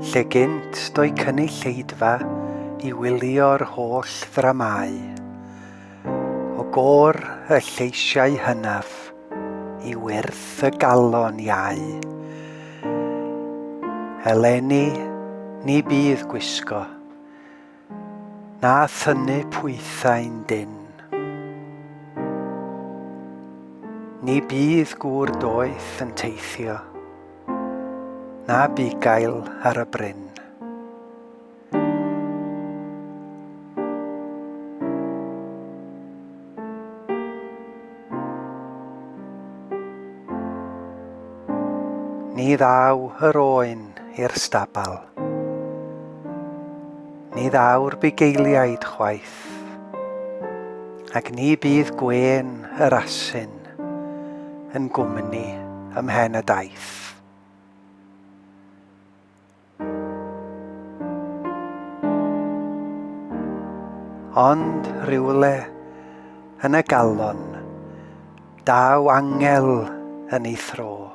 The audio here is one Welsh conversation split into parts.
Lle gynt do'i cynulleidfa i wylio'r holl ddramâu, o gor y lleisiau hynaf i wyrth y galon iau. Eleni ni bydd gwisgo, Na thynnu pwythau'n dynn. Ni bydd gŵr doeth yn teithio, na bugail ar y bryn. Ni ddaw yr oen i'r stabal. Ni ddaw'r bugeiliaid chwaith. Ac ni bydd gwên yr asyn yn gwmni ymhen y daith. Ond rhywle yn y galon, daw angel yn ei thro,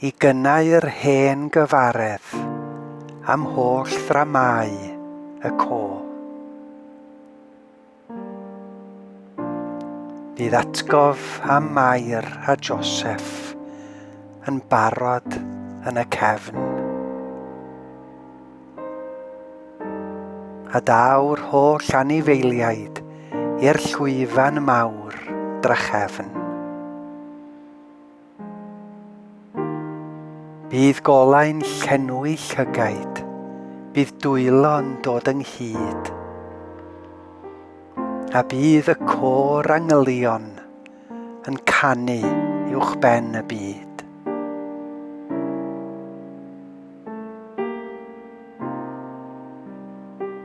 i gynnau'r hen gyfaredd am holl ddramâu y co. Bydd atgof am Mair a Joseph yn barod yn y cefn. A daw'r holl anifeiliaid i'r llwyfan mawr drachefn. Bydd golau'n llenwi llygaid, bydd dwylo'n dod ynghyd, a bydd y côr angylion yn canu uwch ben y byd.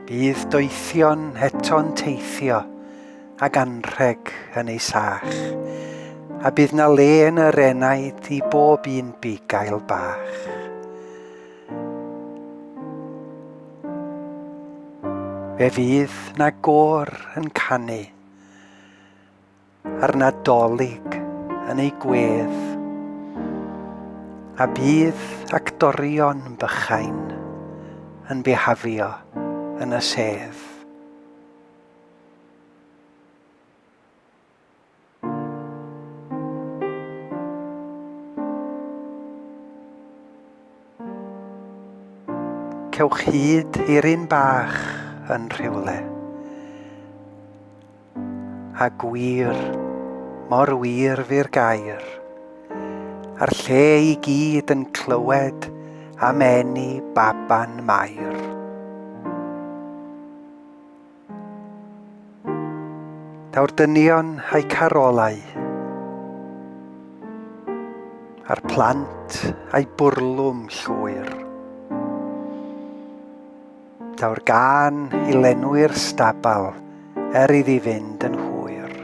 Bydd doethion heto'n teithio ag anrheg yn ei sach, a bydd na le yn yr enaid i bob un bugail bach. Fe fydd na gor yn canu, a'r nadolig yn ei gwedd, a bydd actorion bychain yn bihafio yn y sedd. Cewch hyd i'r un bach yn rhywle. A gwir, mor wir fi'r gair. A'r lle i gyd yn clywed am eni baban mair. Daw'r dynion a'i carolau, a'r plant a'i bwrlwm llwyr. Daw'r gan i lenwi'r stabal er iddi fynd yn hwyr.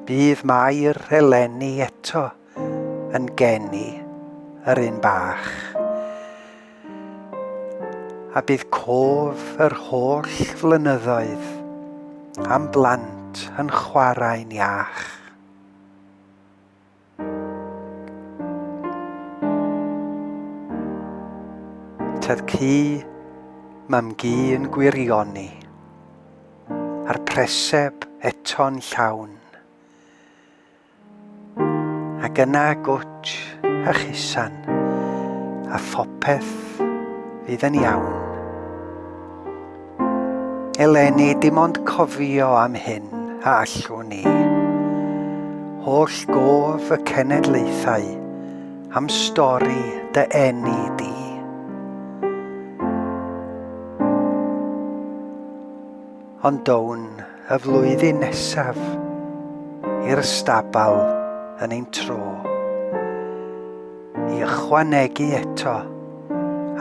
Bydd Mair eleni eto, yn geni yr un bach. A bydd cof yr holl flynyddoedd am blant yn chwarae'n iach. Tyd cu mam gu yn gwirioni a'r preseb eto'n llawn. Ac yna gwtsh a chusan, a phopeth fydd yn iawn. Eleni, dim ond cofio am hyn a allwn ni. Holl gof y cenedlaethau am stori dy enni di. Ond down y flwyddyn nesaf i'r stabal yn ein tro, i ychwanegu eto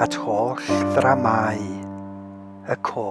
at holl ddramâu y co.